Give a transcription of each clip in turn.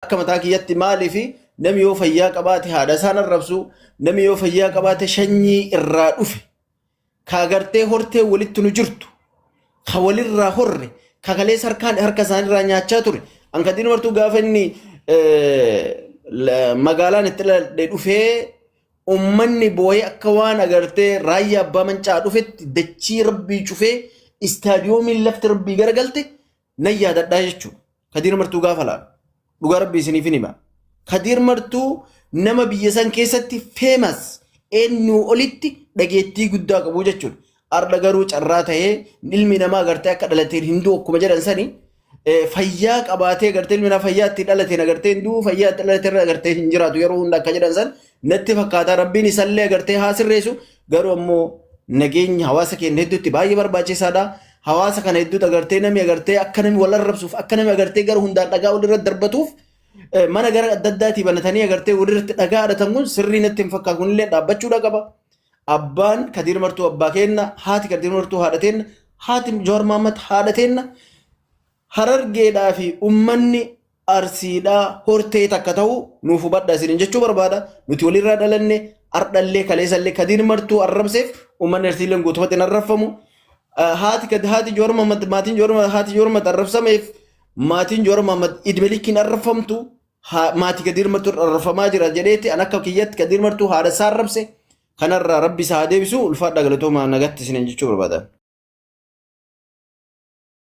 Akka mataa kiyyatti maaliif namni yoo fayyaa qabaate haadha isaan arrabsu, namni yoo fayyaa qabaate shanyii irraa dhufe, ka agartee hortee walitti nu jirtu, ka walirraa horre, ka kalees harkaan harka isaanirraa nyaachaa ture. Ankadiin martuu gaafa inni eh, la- magaalaan itti dhaladhe dhufee ummanni booyee akka waan agartee raayyaa abbaa mancaa dhufetti dachii rabbii cufee istaadiyoomiin lafti rabbii garagalte nan yaadadhaa jechuudha. Kadiir martuu gaafa laalu. Dhugaa rabbi isiniif hin hima. Kadiir martuu nama biyya san keessatti feemas eenyuu olitti dhageettii guddaa qabu jechuudha. Arda garuu carraa ta'ee ilmi namaa agartee akka dhalateen hin du'u akkuma jedhan sani eh, fayyaa qabaatee agartee ilmi namaa fayyaa itti dhalateen agartee hin du'u fayyaa itti dhalateen agartee hin jiraatu yeroo hunda akka jedhan san natti fakkaataa rabbiin isallee agartee haa sirreessu Garuu ammoo nageenyi hawaasa keenya hedduutti baay'ee barbaachisaadha. Hawaasa kana hedduutti agartee namni agartee akka namni wal arrabsuuf akka namni agartee gara hundaan dhagaa walirratti darbatuuf mana gara adda addaatii banatanii agartee walirratti dhagaa adatan kun sirrii natti hin fakkaatu kunillee dhaabbachuudha qaba. Abbaan Kadiir Martuu abbaa keenna haati Kadiir Martuu haadha teenna haati Jowaar Mahammad haadha teenna harargeedhaa fi ummanni Arsiidhaa hortee takka ta'uu nuuf hubadha isiniin jechuu barbaada. Nuti walirraa dhalanne ardhallee kaleessallee kadiir martuu arrabseef uummanni arsiilleen guutumatti hin arrabfamu. Eh, Haati kad- haati Jowaar Mahaammad maatiin Jowaar Mahaammad- haati Jowaar Mahaammad arrabsameef maatiin Jowaar Mahaammad idme likkiin arrabfamtu haa- maatii kadiir martuu arrabfamaa jira jedheeti an akka kiyyatti kadiir martuu haadha isaa arrabse kanarraa rabbi isaa haa deebisu ulfaadhaa galatoomaa nagatti isiniin jechuu barbaada.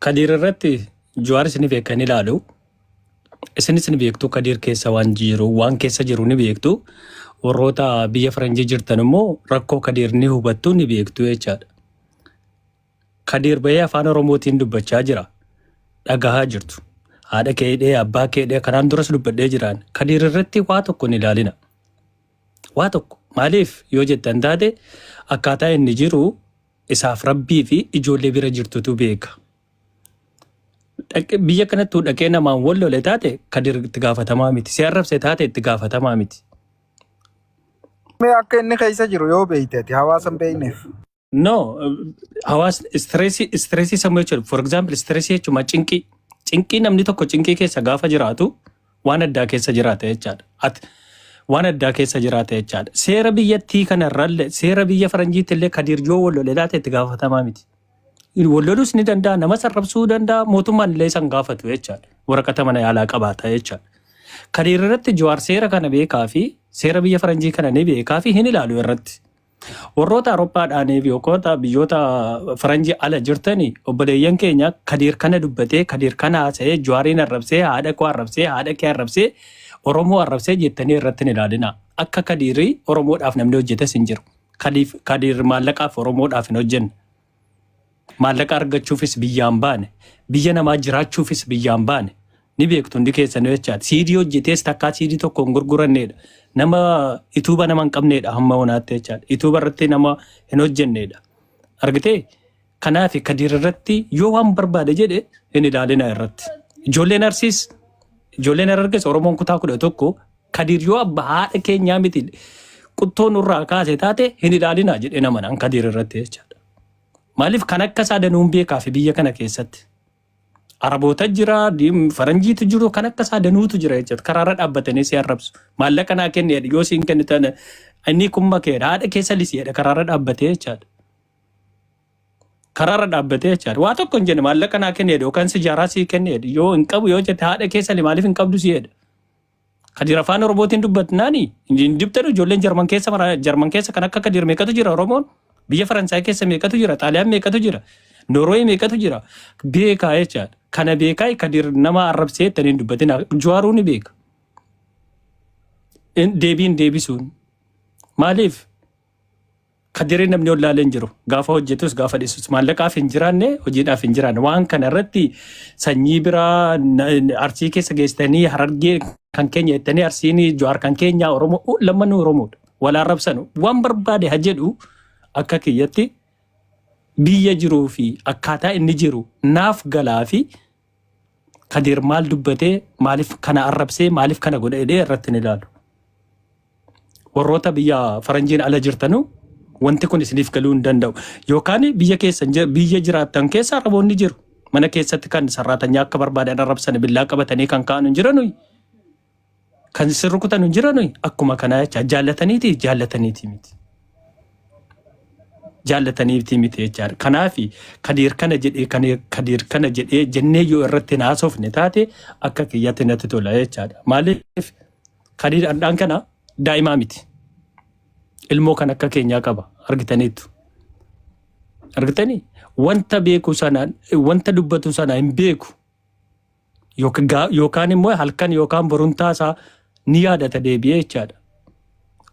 Kadiir irratti Jawaar isin beekan ilaalu. Isinis ni beektu Kadiir keessa waan jiru waan keessa jiru ni beektu. Warroota biyya Faranjii jirtan immoo rakkoo Kadiir ni hubattu ni beektu jechaadha. Kadiir bahee afaan Oromootiin dubbachaa jira. Dhagahaa jirtu. Haadha keedhee abbaa keedhee kanaan duras dubbadhee jiraan. Kadiir irratti waa tokko hin ilaalina. Waa tokko maaliif yoo jettan taate akkaataa inni jiru Isaaf rabbii fi ijoollee bira jirtutu beeka. Biyya kanattuu dhaqee namaan wal lole taate kadir itti gaafatamaa miti. Si arrabse taate itti gaafatamaa miti. Mee akka inni keessa jiru yoo beekte ati hawaasa hin beekneef. No, hawaas istireesii istireesii sammuu jechuudha. For example, istireesii jechuun cinqii. Cinqii namni tokko cinqii keessa gaafa jiraatu waan addaa keessa jiraata jechaadha. At, waan addaa keessa jiraata jechaadha. Seera biyyattii kanarralle seera biyya faranjiitti illee Kadiir yoo wal lole laata itti gaafatamaa miti. Wal lolus ni danda'a, nama sarrabsuu danda'a, mootummaan illee isan gaafatu jechaadha. Waraqata mana yaalaa qabaata jechaadha. Kadiir irratti Jawaar seera kana beekaa fi seera biyya faranjii kana ni beekaa fi hin ilaalu irratti. Warroota Awurooppaadhaaniif yookoota biyyoota faranjii ala jirtani obboleeyyan keenya Kadiir kana dubbatee, Kadiir kana haasa'ee, Jawaariin arrabsee, haadha koo arrabsee, haadha kee arrabsee, Oromoo arrabsee jettanii irratti hin ilaalinaa. Akka Kadiirii Oromoodhaaf namni hojjetes hin jiru. Kadiif- Kadiir maallaqaaf Oromoodhaaf hin hojjenne. Maallaqa argachuufis biyyaan baane. Biyya namaa jiraachuufis biyyaan baane. Ni beektu hundi keessanuu jechaadha. Siidii hojjetees takkaa siidii tokko hin gurguranneedha. Nama ituuba nama hin qabneedha hamma honaatti jechaadha. Ituuba irratti nama hin hojjenneedha. Argitee? Kanaaf Kadiir irratti yoo waan barbaade jedhe hin ilaalina irratti. Ijoolleen Arsiis, ijoolleen Harargees Oromoon kutaa kudha tokko Kadiir yoo abba haadha keenyaa miti quttoo nurraa kaase taate hin ilaalinaa jedhee nama naan Kadiir irratti jechaadha. Maaliif kan akka isaa danuun beekaafi biyya kana keessatti. Araboota jira, diim- faranjiitu jiru, kan akka isaa danuutu jira jechuudha. Karaarra dhaabbatanii si arrabsu. Maallaqa naa kenni jedhe, yoo siin kennu taane inni kun makeedha. Haadha keessa lisi jedhe karaarra dhaabbatee jechaadha. Karaarra dhaabbatee jechaadha. Waa tokko hin jenne maallaqa naa kenni jedhe yookaan sijaaraa sii kenni jedhe. Yoo hin qabu yoo jette haadha keessa li maaliif hin qabdu si jedhe. Kadir afaan oromootiin dubbatnaani hin dibtanu ijoolleen jarman keessa mara jarman keessa kan akka kadir meeqatu jira oromoon biyya faransaay keessa meeqatu jira xaaliyaan meeqatu jira norooyi meeqatu jira beekaa jechaadha kana beekaa kadir nama arrabsee ittanii hin dubbatina juwaaruu ni beeka In- deebiin deebisuun maaliif Kadiree namni ollaalee hin jiru. Gaafa hojjetus gaafa dhiisus maallaqaaf hin jiraanne hojiidhaaf hin jiraanne. Waan kana irratti sanyii biraa na- arsii keessa geessitanii harargee kan keenya jettanii arsiin jawaar kan keenyaa Oromoo u- lammanuu Oromoodha. Wal arrabsanu waan barbaade ha jedhu akka kiyyatti biyya jiruu fi akkaataa inni jiru naaf galaa fi Kadir maal dubbate maalif kana arrabsee maalif kana godha jedhee irratti hin ilaalu. Warroota biyya faranjiin ala jirtanu wanti kun isiniif galuu hin danda'u. Yookaan biyya keessan jir- biyya jiraattan keessa arraboonni jiru. Mana keessatti kan sarraatanyaa akka barbaadan arrabsan billaa qabatanii kan ka'an hin jiranu. Kan isin rukutan hin jiran akkuma kanaa jecha jaallataniiti jaallataniiti miti. Jaallataniiti miti jechaadha. Kanaaf kadiir kana jedhee kadiir kana jedhee jennee yoo irratti naasofne taate akka kiyyatti natti tola jechaadha. Maaliif kadiir hadhaan kana daa'imaa miti. Ilmoo kan akka keenyaa qaba argitaniitu. Argitanii wanta beeku sana wanta dubbatu sana hin beeku. Yookaan immoo halkan yookaan borumtaa isaa ni yaadata deebi'ee jechaadha.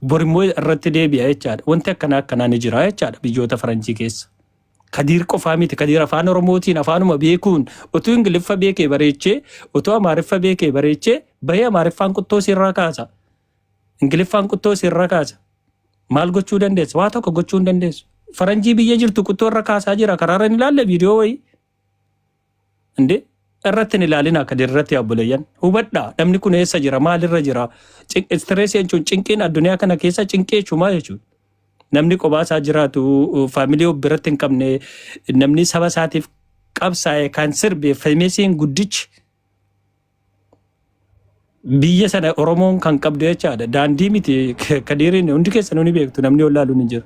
Bor immoo irratti deebi'a jechaadha. Wanti akkanaa akkanaa ni jira jechaadha biyyoota faranjii keessa. Kadiir qofaa miti kadiir afaan oromootiin afaanuma beekuun utuu ingiliffa beekee bareechee utuu amaariffa beekee bareechee bahee amaariffaan quttoo sirraa kaasa. Ingiliffaan quttoo sirraa kaasa. Maal gochuu dandeessa? Waa tokko gochuu hin dandeessu. Faranjii biyya jirtu quttoo irra kaasaa jira karaarra hin ilaalle viidiyoo wayii. እንዴ irratti hin ilaalina akka dirratti abboleeyyan hubadha namni kun eessa jira maalirra jira istireesii jechuun cinqiin addunyaa kana keessa cinqii jechuumaa jechuudha namni qobaa isaa jiraatu faamilii of biratti hin qabne namni saba isaatiif qabsaa'e kan sirbe femeesiin guddichi biyya sana Oromoon kan qabdu jechaadha. Daandii miti kadiiriin hundi keessanuu ni beektu namni olaalu ni jira.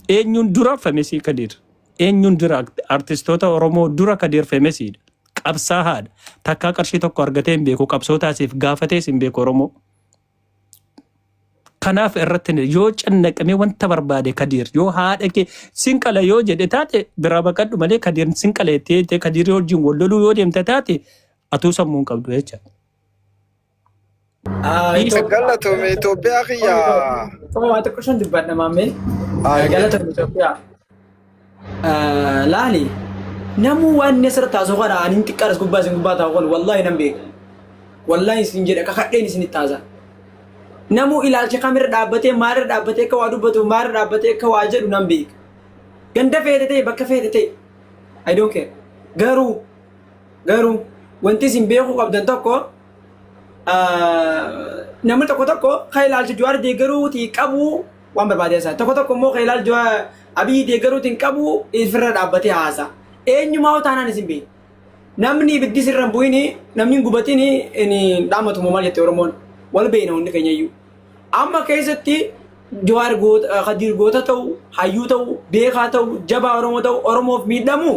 Eenyuun dura famesii kadiir. Eenyuun dura artistoota Oromoo dura kadiir famesiidha. Qabsaahaadha. Takkaa qarshii tokko argatee hin beeku qabsoo taasiif gaafatees hin beeku Oromoo. Kanaaf irratti yoo cannaqamee wanta barbaade Kadiir yoo haadha kee sin qala yoo jedhe taate biraa baqadhu malee Kadiir sin qala jettee jettee Kadiir wajjin wal loluu yoo deemte taate atuu sammuu hin qabdu jecha. Galatoome Itoophiyaa kiyya. Waa xiqqoo shan dubbadha maammee. Galatoome Itoophiyaa. laali namuu waan inni asirratti haasa'u kana ani hin xiqqaadhas gubbaa isin gubbaa taa'u kun wallaahi nan beeka wallaahi isin jedha kakadheen isin itti haasa namuu ilaalcha kamirra dhaabbatee maalirra dhaabbatee akka waa dubbatu maalirra dhaabbatee akka waa jedhu nan beeka ganda feete ta'e bakka feete ta'e I don't care garuu garuu wanti isin beekuu qabdan tokko namni tokko tokko kan ilaalcha Jawaar deeggaruuti qabu waan barbaadee isaa tokko tokko immoo kan ilaalcha abiyyi deeggaruutiin qabu ifirra dhaabbatee haasa eenyumaa taanaan isin beeku namni ibiddi sirra hin bu'ini namni hin gubatini inni dhaamatu moo maal jette oromoon wal beekna hundi keenya iyyuu amma keessatti jawaar goota kadiir goota ta'u hayyuu ta'u beekaa ta'u jabaa oromoo ta'u oromoof miidhamu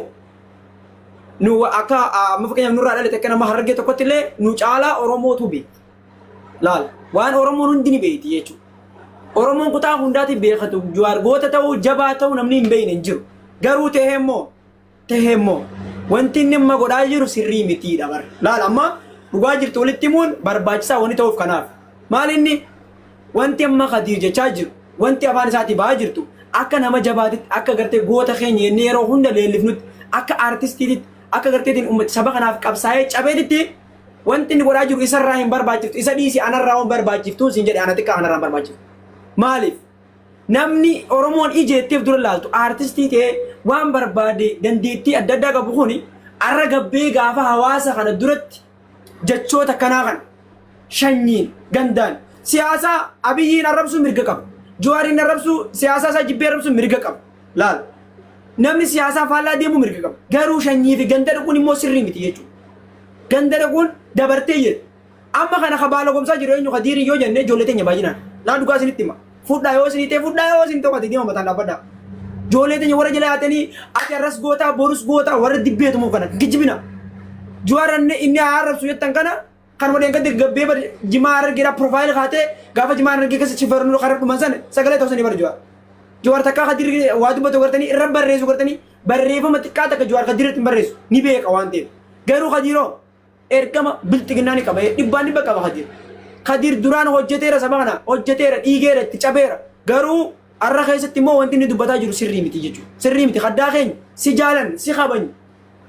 nu akka amma fakkeenyaaf nurraa dhalate akka nama harargee tokkotti illee nu caalaa oromootu beeku Laal waan Oromoon hundi ni beekti jechuudha. Oromoon kutaa hundaati beekatu Jawaar goota ta'uu jabaa ta'uu namni hin beekne hin jiru. Garuu ta'ee immoo ta'ee immoo wanti inni amma godhaa jiru sirrii mitiidha bara. Laal amma dhugaa jirtu walitti himuun barbaachisaa wanti ta'uuf kanaaf. Maal inni wanti amma Kadiir jechaa jiru wanti afaan isaatii ba'aa jirtu akka nama jabaatitti akka gartee goota keenya inni yeroo hunda leellifnutti akka artistiititti akka garteetiin uummata saba kanaaf qabsaa'ee cabeetitti Wanti inni godhaa jiru isarraa hin barbaachiftu. Isa dhiisi anarraa waan barbaachiftuun siin jedhe ana xiqqaa kanarraa hin barbaachiftu. Maaliif? Namni Oromoon ijeetteef dura laaltu aartistii ta'ee waan barbaade dandeettii adda addaa qabu kuni arra gabbee gaafa hawaasa kana duratti jechoota akkanaa kana shanyiin gandaan siyaasaa abiyyiin arrabsuu mirga qaba. Juwaariin arrabsuu siyaasaa isaa jibbee arrabsuu mirga qaba. Laal, namni siyaasaa faallaa deemuu mirga qaba. Garuu shanyii fi ganda dhaquun immoo sirrii miti jechuudha. Ganda dhaquun dabartee jedhe. Amma kana ka baalagomsaa jiru eenyu ka diirii yoo jenne ijoollee teenya baay'inaan. Naa dhugaa isinitti hima. Fudhaa yoo isinii ta'e fudhaa yoo isin tokko deema mataan dhaabbadhaa. Ijoollee teenya warra jala yaatanii ati arras gootaa borus gootaa warra dibbeetumu kana kijibina. Juwaar inni inni haa arrabsu jettan kana Kan wadeen gadde gabbee bade jimaa harargeedha profaayil kaatee gaafa jimaa harargee keessa chifarnu karar dhuman sana sagalee ta'u sanii bara jawaar. Jawaar takkaa kan dirri waa dubbatu gartanii irra barreessu gartanii barreeffama xiqqaa takka jawaar kan dirratti hin barreessu ni beeka waan ta'eef. Garuu kadiiroo ergama bilxiginnaa ni qaba dhibbaan dhibba qaba kadiir. Kadiir duraan hojjeteera saba kana hojjeteera dhiigeera itti cabeera garuu har'a keessatti immoo wanti inni dubbataa jiru sirrii miti jechuudha. Sirrii miti kaddaa keenya si jaalan si kabanya.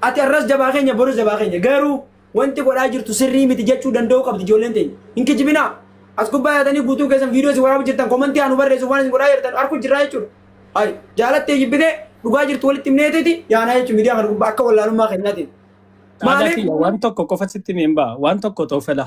Ati har'as jabaa keenya boru jabaa keenya garuu Wanti godhaa jirtu sirrii miti jechuu danda'uu qabdi ijoolleen teenya. Hin kijibinaa. As gubbaa yaatanii guutuu keessan viidiyoo isin waraabaa jirtan komantii haa nu barreessuuf waan isin godhaa jirtan arguu jirraa jechuudha. Hayi jaalattee jibbitee dhugaa jirtu walitti himneetiiti yaanaa jechuun miidiyaa kana gubbaa akka wallaalummaa kennaatiin. Maaliif? Maaliif? Waan tokko qofa sitti himeen ba'a. Waan tokko toofela.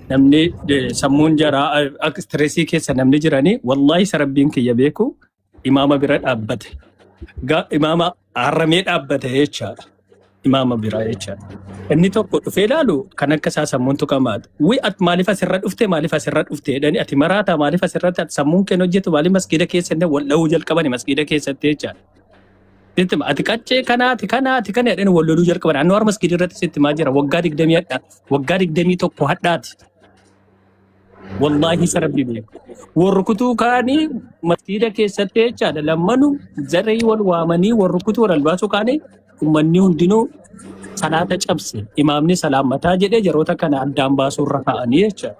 namni eh, sammuun jaraa eh, akka stressii keessa namni jiranii wallaahi isa rabbiin kiyya beeku imaama bira dhaabbate Ga- imaama haramee dhaabbate jechaadha imaama biraa jechaadha inni tokko dhufee ilaalu kan akka isaa sammuun tuqamaadha wi at maaliif asirra dhufte maaliif asirra dhufte jedhani ati maraataa maaliif asirratti ati sammuun keen hojjetu maaliif masgiida keessa inni wal dha'uu jalqabani masgiida keessatti jechaadha Sitti hima, ati qaccee kanaati kanaati kana jedhani wal loluu jalqaban. Annu harmas gidi irratti sitti himaa jira. Waggaa digdamii hadhaa, waggaa digdamii tokko hadhaati. Wallaahi isa rabbi beeku. Wal rukutuu kaanii masjiida keessatti jechaadha. Lammanu zaree wal waamanii wal rukutuu wal albaasuu kaanii ummanni hundinuu salaata cabse. Imaamni salaammataa jedhee jaroota kana addaan baasuu irra kaa'anii jechaadha.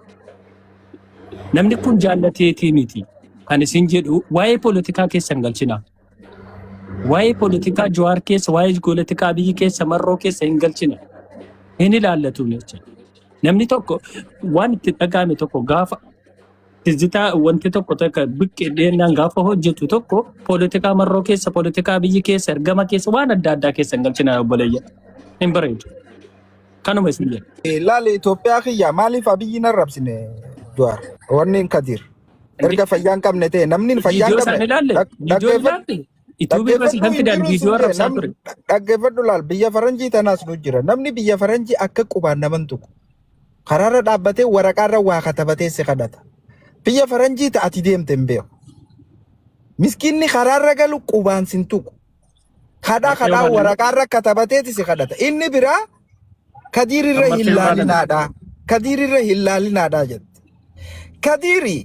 Namni kun jaallateetii miti. Kan isin jedhu waa'ee poolitikaa keessan galchina. Waa'ee politikaa Jawaar keessa, waa'ee politikaa Abiyyi keessa, Marroo keessa hin galchine. Hin ilaallatu jecha. Namni tokko waan itti dhaga'ame tokko gaafa tizzitaa wanti tokko takka biqqee dheennaan gaafa hojjetu tokko politikaa Marroo keessa, politikaa Abiyyi keessa, ergama keessa waan adda addaa keessa hin galchina obboleeyya. Hin bareedu. Kanuma isin jedha. Laali Itoophiyaa kiyya maaliif abiyyi hin arrabsine Jawaar? Wanni hin kadiir. Erga Namicha fayyaa hin qabne ta'e namni fayyaa hin viidiyoo qabne isaan ilaalle dhag- viidiyoo dhaggeeffadhu ilaalle yuutuubii irra si dhaggeeffadhu kan hin fidaan jiru viidiyoo siin jee arrabsaa nam ture. dha- dhaggeeffadhu laal biyya faranjii tanaas nu jira namni biyya faranjii akka qubaan naman tuqu karaarra dhaabbatee waraqaarra waa katabatee si kadhata biyya faranjii ta ati deemte hin beeku miskiinni karaarra galu qubaan sin tuqu Kadhaa Matteo kadhaa Baleno. waraqaa irra katabateeti si kadhata. Inni biraa kadiir irra hin Matteo Baleno. laalinaadha. Kadiir irra hin laalinaadha jette. Kadiiri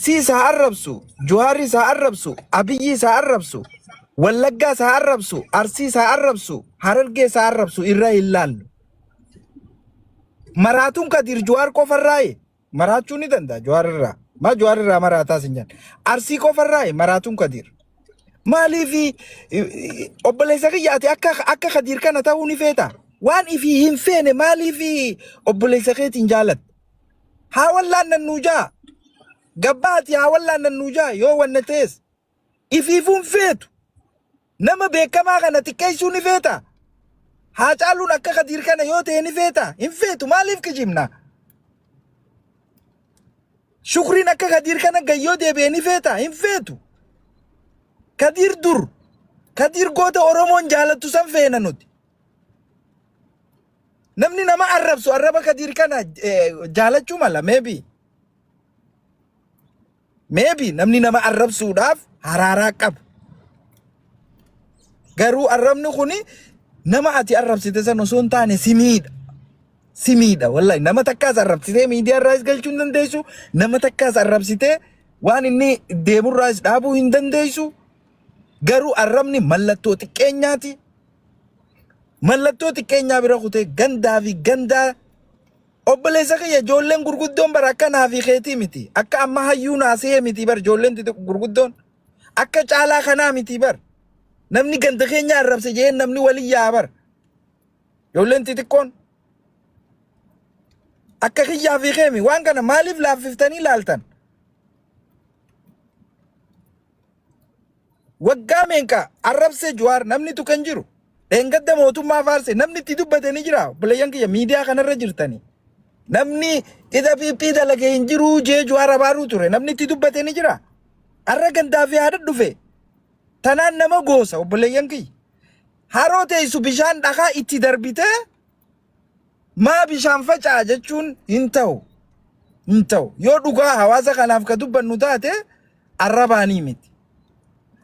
siis haa arrabsu, Juhaaris haa arrabsu, Abiyyiis haa arrabsu, Wallaggaas haa arrabsu, Arsiis haa arrabsu, Harargees haa arrabsu irra hin laallu. Maraatuun Kadiir Juhaar qofarraayi. Maraachuu ni danda'a Jawaar irraa. Maa Jawaar irraa maraataa sin jedhan. Arsii qofarraa maraatuun Kadiir. Maaliif obboleessa kiyya ati akka akka Kadiir kana ta'uu ni feeta? Waan ifii hin feene maaliif obboleessa keetiin jaalatta? Haa wallaan nannuu jaa. Gabbaa ati haa wallaan nannuu jaa yoo wanna ta'es. ifiifuun feetu. Nama beekamaa kana xiqqeessuu ni feetaa? Haacaaluun akka Kadiir kana yoo ta'e ni feetaa? Hin feetu maaliif kijibna? Shukriin akka Kadiir kana gayyoo deebi'ee ni feetaa? Hin feetu. Kadiir dur, Kadiir goota Oromoon jaalattu san feena nuti. Namni nama arrabsu arraba Kadiir kana eh, jaalachuu mala maybe. Maybe namni nama arrabsuudhaaf haraaraa qabu. Garuu arrabni kun nama ati arrabsite san osoo hin taane si miidha. Si miidha wallahi nama takkaas arrabsitee miidiyaa irraas galchuu hin dandeessu. Nama takkaas arrabsitee waan inni deemurraas dhaabuu hin dandeessu. Garuu arrabni mallattoo xiqqeenyaati. Mallattoo xiqqeenyaa bira kutee gandaa fi gandaa Obboleessa kiyya ijoolleen gurguddoon bar akka naa fi keetii miti. Akka amma hayyuu naasihee miti bar ijoolleen xixiqqo gurguddoon. Akka caalaa kanaa miti bar. Namni ganda keenya arrabse jeen namni waliin yaa'a bar. Ijoolleen xixiqqoon akka kiyyaa fi keemi waan kana maaliif laaffiftanii laaltan? Waggaa meeqa arrabse Juwaar namni tuqe hin jiru. Dheengadda mootummaa faarse namni itti dubbate ni jira. Obboleeyyan kiyya miidiyaa kanarra jirtanii. Namni qixa piiphii dalage hin jiru jee Juwaar abaaruu ture. Namni itti dubbate ni jira. Arra gandaa fi haadha dhufe. Tanaan nama goosa obboleeyyan kiyya. Haroo teessu bishaan dhakaa itti darbitee Maa bishaan faca'a jechuun hin ta'u. Hin ta'u. Yoo dhugaa hawaasa kanaaf ka dubbannu taate arrabaanii miti.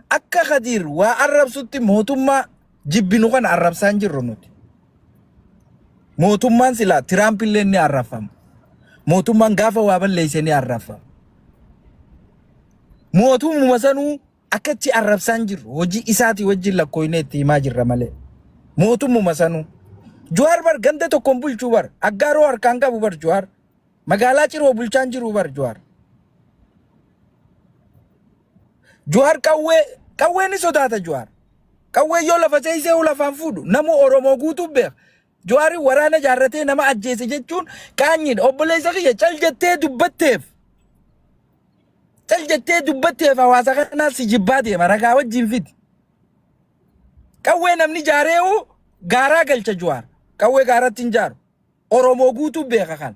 Akka Kadiir waa arrabsutti mootummaa jibbinu kana arrabsaa hin jirru nuti. Mootummaan silaa Tiraamp illee ni arrabfama. Mootummaan gaafa waa balleesse ni arrabfama. Mootummaa sanuu Akka achi arrabsaa hin jirru hojii isaatii wajjin lakkooynee itti himaa jirra malee. Mootummuma sanuu. Juwaar bar ganda tokkoon bulchuu bar aggaaroo harkaan qabu bar Juwaar. Magaalaa ciroo bulchaan jiruu bar Juwaar. Juwaar qawwee qawwee ni sodaata Juwaar. Qawwee yoo lafa seeysee ol afaan fuudhu namuu Oromoo guutuu beeka. Jawaariin waraana ijaarratee nama ajjeese jechuun qaanyiidha. Obboleessa kiyya cal jettee dubbatteef. Cal jettee dubbatteef hawaasa kanaa si jibbaa deema ragaa wajjin fidi. Qawwee namni ijaareewu gaaraa galcha Jawaar. Qawwee gaaratti hin jaaru. Oromoo guutuu beeka kana.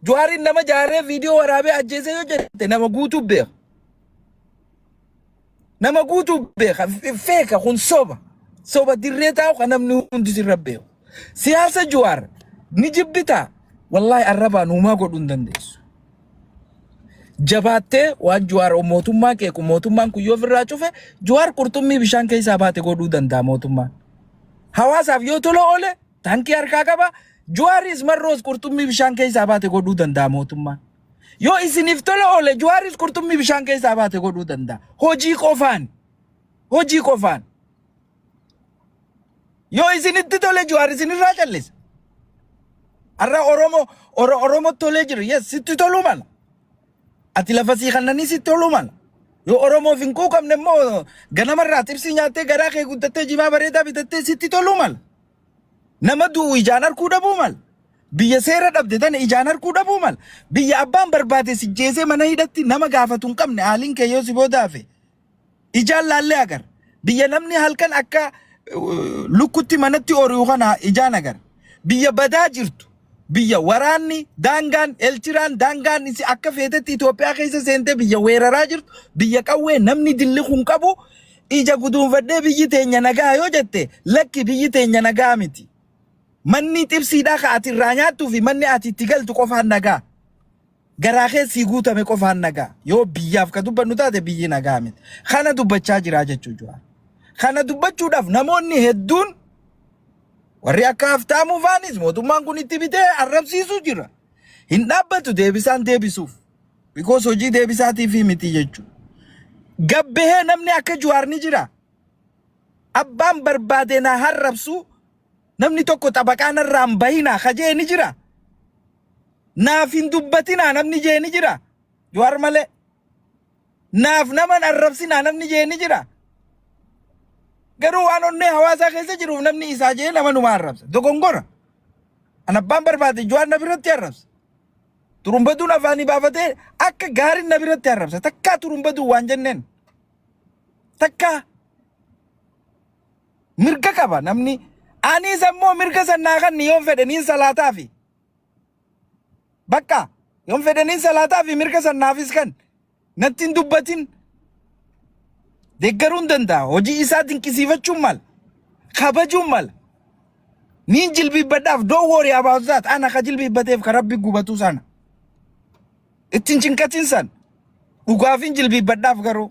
Juwaariin nama jaaree viidiyoo waraabee ajjeesee yoo jette nama guutuu beeka. Nama guutuu beeka. Feeka kun soba. Soba dirree taa'u kan namni hundi sirra beeku. Siyaasa Juwaar ni jibbitaa. Wallaahi arrabaan uumaa godhuu hin dandeessu. Jabaattee waan Juwaar mootummaa qeequ mootummaan kun yoo ofirraa cufe Juwaar qurxummii bishaan keessaa baate godhuu danda'a mootummaan. Hawaasaaf yoo tola oole Tankii harkaa qaba. Juwaaris marroos qurxummii bishaan keessaa baate godhuu danda'a mootummaan. Yoo isiniif tola oole juwaaris qurxummii bishaan keessaa baate godhuu danda'a. Hojii qofaan. Hojii qofaan. Yoo isinitti tole juwaar isinirraa callisa. Har'a Oromoo Oro- Oromoo tolee jiru. Yes, sitti toluu mala. Ati lafa sii kannanii sitti toluu mala. Yoo Oromoof hin quuqamne immoo ganamarraa xibsii nyaattee garaa kee guddattee jimaa bareedaa bitattee sitti toluu mala. Nama du'u ijaan arkuu dhabuu mal? Biyya seera dhabde tana ijaan arkuu dhabuu mal? Biyya abbaan barbaade si jeesee mana hidhatti nama gaafatu hin qabne haaliin kee yoo si booda hafe ijaan laallee agar. Biyya namni halkan akka uh, lukkutti manatti ori'u kana ijaan agar. Biyya badaa jirtu biyya waraanni daangaan eltiraan daangaan isi akka feetetti Itoophiyaa keessa seentee biyya weeraraa jirtu biyya qawwee namni dilli kun qabu ija guduunfadhee biyyi teenya nagaa yoo jette lakki biyyi teenya nagaa miti. Manni xibsiidhaa ka ati irraa nyaattuu fi manni ati itti galtu qofaan nagaa. Garaa keessii guutame qofaan nagaa. Yoo biyyaaf ka dubbannu taate biyyi nagaa miti. Kana dubbachaa jiraa jechuu Jawaar. Kana dubbachuudhaaf namoonni hedduun warri akka Haftaamuu faanis mootummaan kun itti bitee arrabsiisuu jira. Hin dhaabbatu deebisaan deebisuuf. Bikoos hojii deebisaatiifii miti jechuu. Gabbahee namni akka Jawaar ni jira. Abbaan barbaadee naa harrabsuu namni tokko xabaqaa narraa hin bahinaa ka jee ni jira. Naaf hin dubbatinaa namni jee ni jira? Jawaar malee. Naaf nama hin arrabsinaa namni jee ni jira? Garuu waan onnee hawaasaa keessa jiruuf namni isaa jee nama numa arrabsa. Dogongora. An abbaan barbaade Jawaar na biratti arrabsa. Turumbaduun afaanii baafatee akka gaariin na biratti arrabsa. Takkaa turumbaduun waan jenneen. Takkaa. Mirga qaba namni aniis ammoo mirga san naa kanni yoon fedhe niin salaataafi bakka yoon fedhe niin salaataafi mirga san naafis kan natti hin dubbatin deeggaruun danda'a hojii isaa dinqisiifachuun mala kabajuun mala niin jilbiibbadhaaf don't worry about that ana ka jilbiibbateef ka rabbi gubatuu sana ittiin cinqatin san dhugaafin jilbiibbadhaaf garuu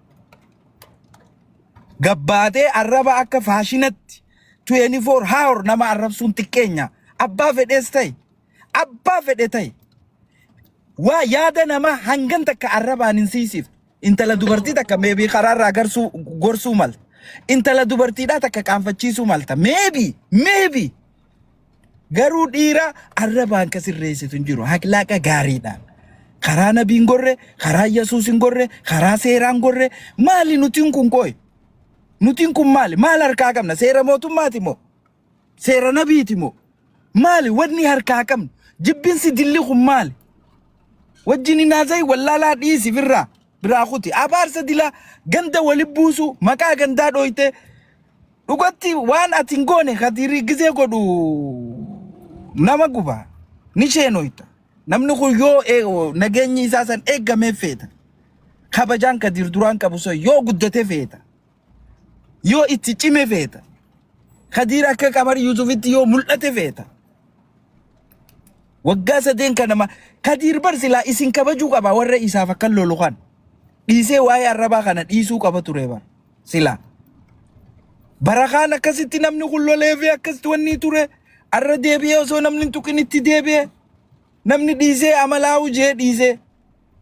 Gabbaatee arraba akka faashinatti 24 hour nama arrabsuun xiqqeenya. Abbaa fedhees ta'e abbaa fedhe ta'e waa yaada namaa hangan takka arrabaan hin siisiif. Intala dubartii takka meebii karaarraa garsuu gorsuu malta. Intala dubartiidhaa takka qaanfachiisuu malta. Meebii meebii Garuu dhiira arrabaan ka sirreessitu hin jiru. Haklaaqa gaariidhaan. Karaa nabiin gorre, karaa Yesuus hin gorre, karaa seeraan gorre. Maali nutiin kun qoy? Nutiin kun maali? Maal harkaa qabna? Seera mootummaati moo? Seera nabiiti moo? Maali wanni harkaa qabnu? Jibbinsi dilli kun maali? Wajjin hin haasa'i wallaalaa dhiisi firraa. biraa kuti abaarsa dilaa ganda wali buusuu maqaa gandaa dhooytee dhugatti waan ati hin goone kadirii gizee godhu nama guba ni sheenoyta namni kun yoo ee- nageenyi isaa san eeggamee feeta kabajaan kadiir duraan qabu sun yoo guddate feeta Yoo itti cime feeta. Kadiir akka Qamar Yuusufitti yoo mul'ate feeta. Waggaa sadeen kana ma Kadiir bar silaa isin kabajuu qaba warra isaaf akka lolu kan. Dhiisee waa'ee arrabaa kana dhiisuu qaba ture bar. Silaa. Barakaan akkasitti namni kun lolee fi akkasitti wanni ture arra deebi'ee osoo namni hin tuqin itti deebi'ee namni dhiisee amalaa hujee dhiisee.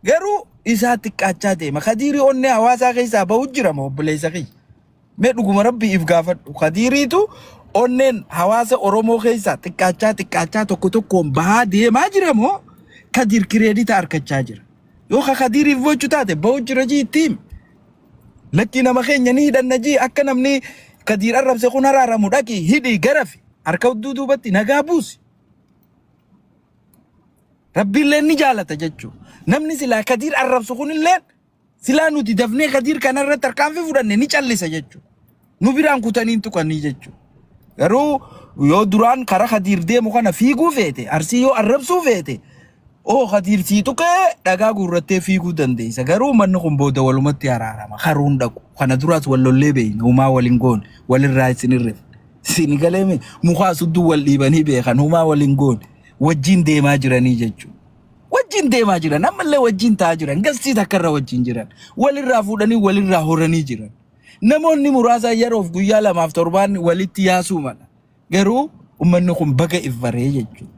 Garuu isaa xiqqaachaa deema. Kadiirii onnee hawaasaa keessaa bahu jira moo obboleessa kiyya? Mee dhuguma rabbii if gaafadhu. Kadiiriitu onneen hawaasa Oromoo keessaa xiqqaachaa xiqqaachaa tokko tokkoon bahaa deemaa jira moo kadiir kireedita arkachaa jira? Yoo ka kadiiriif bochu taate bahu jira jii itti himi. Lakkii nama keenya ni hidhanna jii akka namni kadiir arrabse kun haraaramu dhaqi hidhi garafi harka udduu duubatti nagaa buusi. Rabbiillee ni jaalata jechuu. Namni silaa kadiir arrabsu kunillee silaa nuti dafnee kadiir kanarratti tarkaanfii fudhanne ni callisa jechuu. Nu biraan kutanii hin tuqanii jechuu. Garuu yoo duraan karaa kadiir deemu kana fiiguu feete arsii yoo arrabsuu feete oo kadiir sii tuqee dhagaa guurrattee fiiguu dandeessa. Garuu manni kun booda walumatti araarama. Karuun dhaqu. Kana duraas wal lollee beeyna. Umaa wal hin goone. Walirraa isin irreef. Isin galee mi? Mukaa sudduu wal dhiibanii beekan humaa wal hin goone. Wajjin deemaa jiranii jechuudha. Wajjin deemaa jiran ammallee wajjin ta'aa jiran gastii takkarra wajjin jiran walirraa fuudhanii walirraa horanii jiran. Namoonni muraasa yeroof guyyaa lamaaf torbaan walitti yaasuu mala. Garuu ummanni kun baga if baree jechuudha.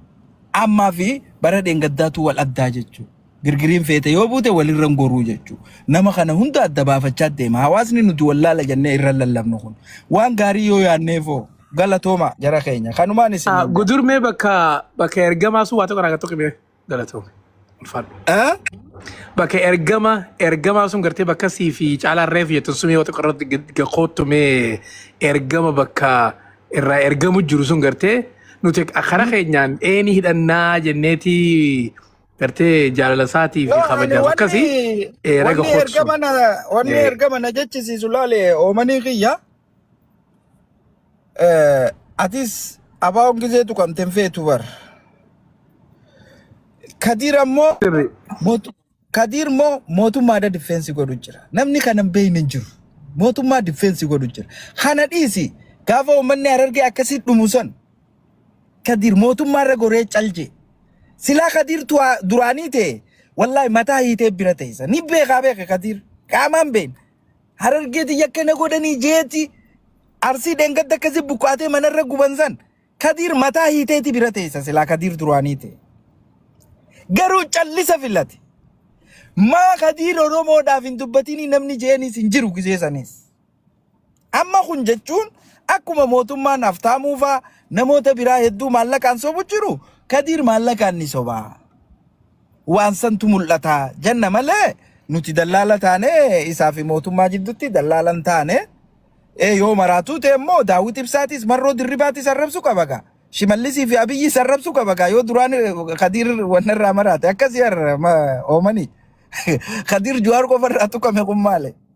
Ammaa fi bara dheengaddaatu wal addaa jechuudha. Girgiriin feete yoo buute walirra hin goruu jechuu. Nama kana hunda adda baafachaa deema. Hawaasni nuti wallaala jennee irra hin lallabnu kun. Waan gaarii yoo yaadneefoo galatooma jara keenya. Kanumaan isin Ah, hin jedha. Gudurmee bakka bakka ergamaa sun waa tokko irraa tokko mee galatoome. Ulfaadhu. Eh? Bakka ergama ergamaa sun gartee bakka sii fi caalaa reefu jettu sun yoo tokko irratti gad- gad koottu mee ergama bakka irraa ergamu jiru sun gartee nuti karaa keenyaan eenii hidhannaa jenneeti gartee jaalala isaatii fi No, ani kabajaaf wanni akkasi eh, raga wanni hotsu. ergama na wanni Eh, ergama na jechisiisu laale oomanii kiyya eh, atis abaawoon gizeetu kan tenfeetu bar kadiir ammoo sirri. mootu kadiir immoo mootummaadha difeensi godhu jira namni kana hin beekne hin jiru mootummaa difeensi godhu jira kana dhiisi gaafa uummanni harargee akkasii dhumu san Kadir mootummaa irra goree cal jee silaa Kadir tuaa duraanii tee wallahi mataa hiitee bira teessa ni beekaa beeka Kadir qaamaan been harargeeti yakka na godhanii jeeti arsii dheengadda akkasi buqqaatee manarra guban san Kadir mataa hiiteeti bira teessa silaa Kadir duraanii tee garuu callisa filate maa Kadir Oromoodhaaf hin dubbatinii namni jeenis hin jiru gisee sanis. Amma kun jechuun akkuma mootummaan Haftaamuu faa namoota biraa hedduu maallaqaan sobu jiru Kadiir maallaqaan ni soba. Waan santu mul'ata jenna malee nuti dallaala taane isaa fi mootummaa jiddutti dallaala hin taane. Ee yoo maraatuu ta'e immoo Daawit Ibsaatis Marroo Dirribaatis arrabsu qabaga. Shimallisii fi Abiyyis arrabsu qabaga. Yoo duraan Kadiir wanna irraa maraate akkasii har'a ma- oomanii. Kadiir Juwaar qofa irraa tuqame kun maali?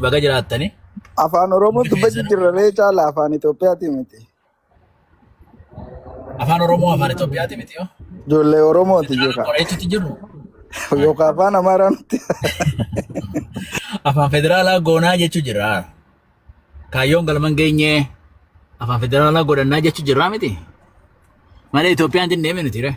Baga jiraattanii. Afaan Oromoo Hundi dubbachuu keessanuu jirra ree caala afaan Itoophiyaatii miti. afaan Oromoo afaan Itoophiyaati miti yoo. Ijoollee Oromooti Nuti jekaa. qoreetutti jirru Yookaan afaan Amaaraa nutti. afaan federaalaa goonaa jechuu jirra. Kaayyoon galman geenye afaan federaalaa godhannaa jechuu jirraa miti. Malee Itoophiyaan hin deemne nuti ree.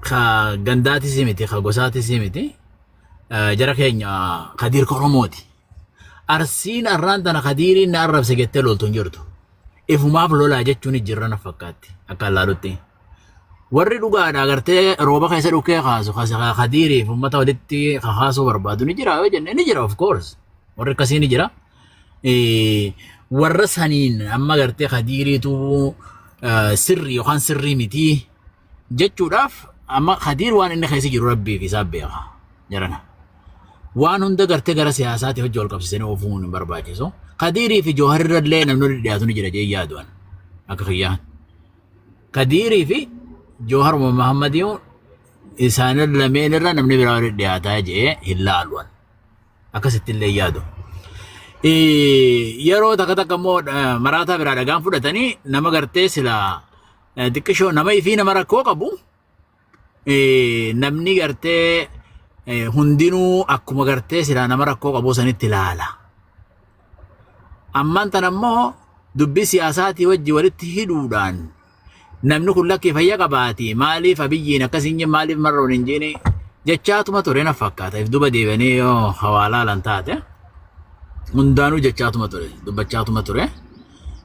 ka gandaatis miti ka gosaatis miti eh, jara keenya kadiir koromooti arsiin arraan tana kadiiriin na arrabse jettee loltu hin jirtu ifumaaf lolaa jechuun jirra na fakkaatti akka allaalutti warri dhugaadha agartee rooba keessa dhukkee kaasu kasi ka kadiiriif ummata walitti ka kaasuu barbaadu ni jira yoo jenne ni jira of course warri akkasii ni jira Eh, warra saniin amma agartee kadiiriitu eh, sirri yookaan sirrii mitii jechuudhaaf amma kadiir waan inni keessa jiru rabbii fi isaa beeka jarana. Waan hunda gartee gara siyaasaatti hojii wal qabsiisanii oofuun hin barbaachisu. Kadiirii fi jooharirra illee namni dhiyaatu ni jira jee yaadu'an akka kiyyaa. Kadiirii fi joohar Muhammad yoo isaan lameen irra namni biraa wal dhiyaataa jee hin laalu'an. Akkasitti illee yaadu. Yeroo takka takka immoo maraataa biraa dhagaan fudhatanii nama gartee silaa eh, xiqqishoo nama ifii nama rakkoo qabu eh, namni gartee eh, hundinuu akkuma gartee silaa nama rakkoo qabu sanitti ilaala. Ammaan tan ammoo dubbii siyaasaatii wajji walitti hidhuudhaan namni kun lakkii fayya qabaati maaliif abiyyiin akkas hin jenne maaliif marroon hin jenne jechaatuma ture na fakkaata if duba deebanii yoo hawaalaa lan taate hundaanuu jechaatuma ture dubbachaatuma ture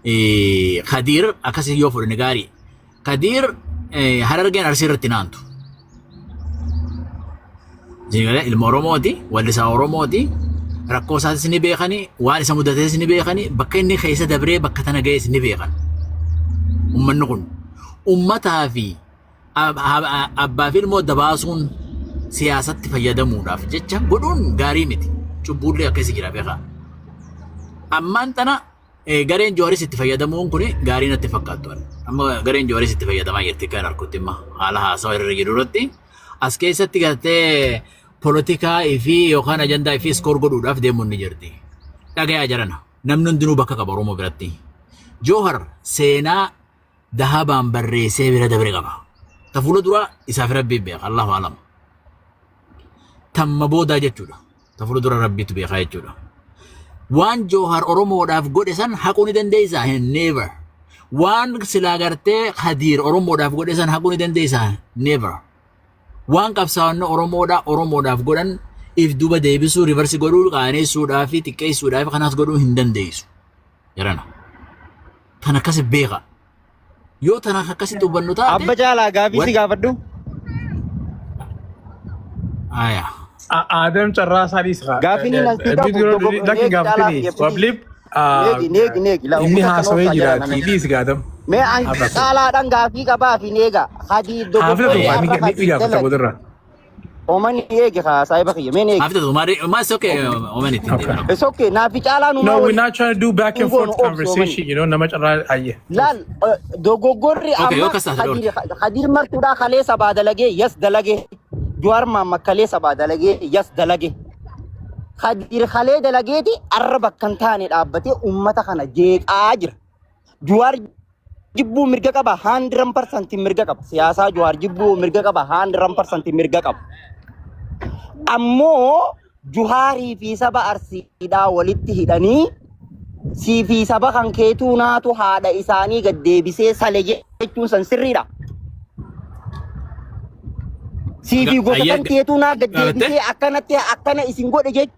eh, Kadiir akkasii yoo fudhanne gaarii. Kadiir eh, harargeen arsii irratti naantu. Jingala ilma Oromooti, wallisaa Oromooti, rakkoo isaatis ni beekani, waan isa mudates ni beekani, bakka inni keessa dabree bakka tana ga'es ni beekan. Uummanni kun uummataa fi ab- ab- abbaa fi ilmoo dabaasuun siyaasatti fayyadamuudhaaf jecha godhuun gaarii miti. Cubbuullee akkasii jira beekaa. Ammaan tana Gareen Jawaaris itti fayyadamuun kun gaarii natti fakkaattu. Amma gareen Jawaaris itti fayyadamaa jirti kan harkutti imma haala haasawa irra jiru irratti. As keessatti gartee polotikaa fi yookaan ajandaa fi iskoor godhuudhaaf deemuun ni jirti. Dhagayaa jarana namni hundinuu bakka qaba Oromoo biratti. Joohar seenaa dahabaan barreessee bira dabre qaba. Ta fuula duraa isaaf rabbii beeka Allahu alam. Tamma boodaa jechuudha. Ta fuula dura rabbiitu beekaa jechuudha. Waan Joohar Oromoodhaaf godhe san haquu ni dandeessaa? Never. Waan silaa gartee Kadiir Oromoodhaaf godhe san haquu ni dandeessaa? Never. Waan qabsaa'onni Oromoodhaa Oromoodhaaf godhan if duba deebisuu rivarsi godhuu qaaneessuudhaa fi xiqqeessuudhaa fi kanaas godhuu hin dandeessu. Jarana. Tan akkasi beeka. Yoo tan akkasitti hubannu taate. Abba caalaa gaafii si gaafadhu. Aya. Aadam carraa isaa dhiisa. Gaaffiin inni asii qabu lakki gaafatini. Wabliif Neegi neegi neegi. inni haasawee jiraati. Dhiisi gaadam. Mee an caalaadhaan gaafii qabaa fi neega. Hadi Haafila tokko ni gaafata boodarra. Oman eegi haa saahiba kiyya meen eegi. After Omar, Omar is okay. Omar is okay. okay. It's okay naafi caalaa numaa No, we're waliin not trying to do back and goonu forth obsi omani. conversation, you know, nama carraa ayye. Laal eh, dogoggorri Okay, amma yoo kasa haadha Kadir oolta. Kadir martuudhaa kalee sabaa dalagee yas dalagee. Juwaar maamma kalee sabaa dalagee yas dalagee. Kadir kalee dalageeti arra bakka hin taane dhaabbatee uummata kana jeeqaa jira. Juwaar jibbuu mirga qaba haandiran parsantiin mirga qaba. Siyaasaa Juwaar jibbuu mirga qaba haandiran parsantiin mirga qaba. Ammoo Juhaarii fi saba Arsiidhaa walitti hidhanii sii fi saba kan keetuu naatu haadha isaanii gad deebisee sale jechuun san sirriidha. Sii fi gosa kan keetuu naa gad deebisee akkanatti akkana isin godhe jechuun.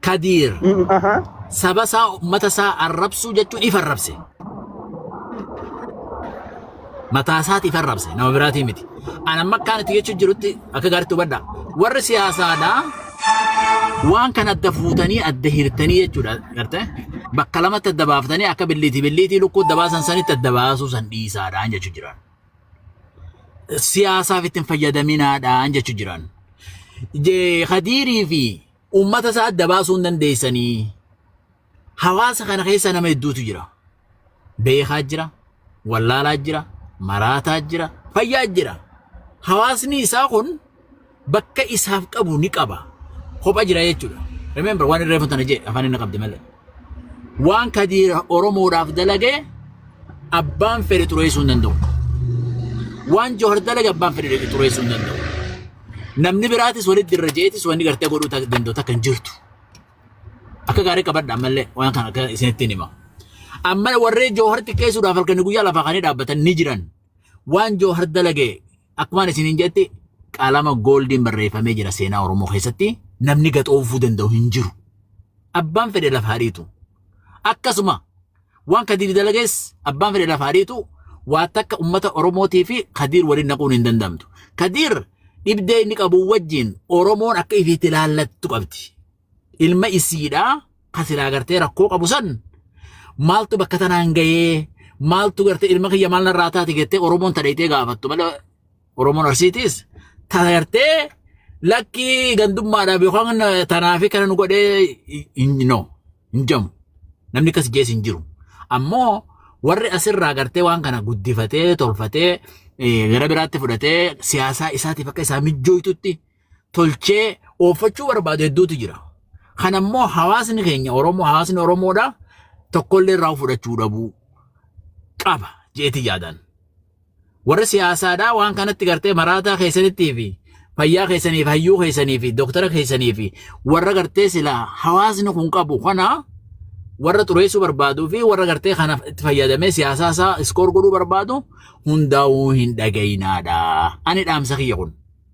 Kadiir Mm, aha. saba isaa ummata isaa arrabsuu jechuun ifa arrabse. Mataa isaati ifa arrabse nama biraatii miti. Ani amma akkaan itti jechuun jirutti akka gaariitti hubadha. Warri siyaasaadhaa waan kana adda fuutanii adda hirtanii jechuudha garte bakka lamatti adda baaftanii akka billiitii billiitii lukkuu adda baasan sanitti adda baasuu san dhiisaadhaan jechuu jiran. Siyaasaaf ittiin fayyadaminaadhaan jechuu jiran. Je- Khadiirii fi uummata isaa adda baasuu hin dandeessanii. Hawaasa kana keessa nama hedduutu jira. Beekaa jira, wallaalaa jira, maraataa jira, fayyaa jira. Hawaasni isaa kun bakka isaaf qabu ni qaba. Kopha jira jechuudha. Remember waan irreefatu tana jedhe afaan inni qabde malee. waan kadiir oromoodhaaf dalagee abbaan fedhe xureessuu hin danda'u waan johar dalage abbaan fedhe xureessuu hin danda'u namni biraatis walitti irra jeetis wanni gartee godhuu ta- danda'u takka hin jirtu akka gaarii qabadha ammallee waan kana akka isinitti hima amma warree jooharti keessuudhaaf halkanii guyyaa lafaa kanii dhaabbatan ni jiran waan joohar dalage Akkumaan isiniin jetti qalama gooldiin barreeffamee jira seenaa Oromoo keessatti namni gaxoofuu danda'u hin jiru. Abbaan fedhe lafa hariitu. Akkasuma waan kadiir dalagees abbaan fedhe lafa hariitu waa takka ummata Oromootii fi kadiir waliin naquun hin danda'amtu. Kadiir dhibdee inni qabu wajjin Oromoon akka ifiitti ilaallattu qabdi. ilma isiidha kan silaa gartee rakkoo qabu san maaltu bakka tanaan gahee maaltu gartee ilma kiyya maal narraa taate jettee Oromoon tadheetee gaafattu malee Oromoon Arsiitiis tagartee lakkii gandummaadhaaf yookaan tanaafi kana nu godhee no hin jamu namni akkas jees hin jiru ammoo warri asirraa gartee waan kana guddifatee tolfatee gara biraatti fudhatee siyaasaa isaatiif akka isaa mijjooytutti tolchee ooffachuu barbaadu hedduutu jira. Kan ammoo hawaasni keenya Oromoo hawaasni Oromoodha tokkollee irraa fudhachuu dhabuu qaba jeeti yaadaan. Warri siyaasaadhaa waan kanatti gartee maraataa keessanittii fi fayyaa keessanii fi hayyuu keessanii fi dooktara keessanii fi warra gartee silaa hawaasni kun qabu kana warra xureessuu barbaaduu fi warra gartee kana itti fayyadamee siyaasaa isaa iskoor godhuu barbaadu hundaa'uu hin dhagayinaadha. Ani dhaamsa kiyya kun.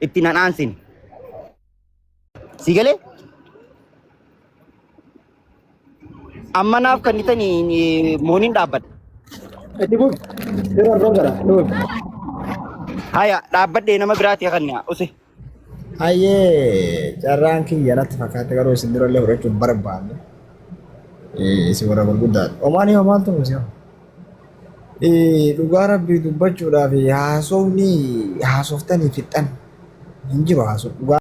itti nan aansine. Si galee? Amma naaf kan itanii mooniin dhaabbadha. Itti buuf. Yeroo argaa gara. Nuuf. Haya dhaabbadhee nama biraati kanna use. Hayyee carraan kiyya natti fakkaate garuu isin durallee fudhachuun barbaanne. Isin warra gurguddaadha. Omaanii hoo maaltu musee'a? Eh, dhugaa rabbii dubbachuudhaaf haasofni haasoftanii fixxan hin jiru haasofni dhugaa.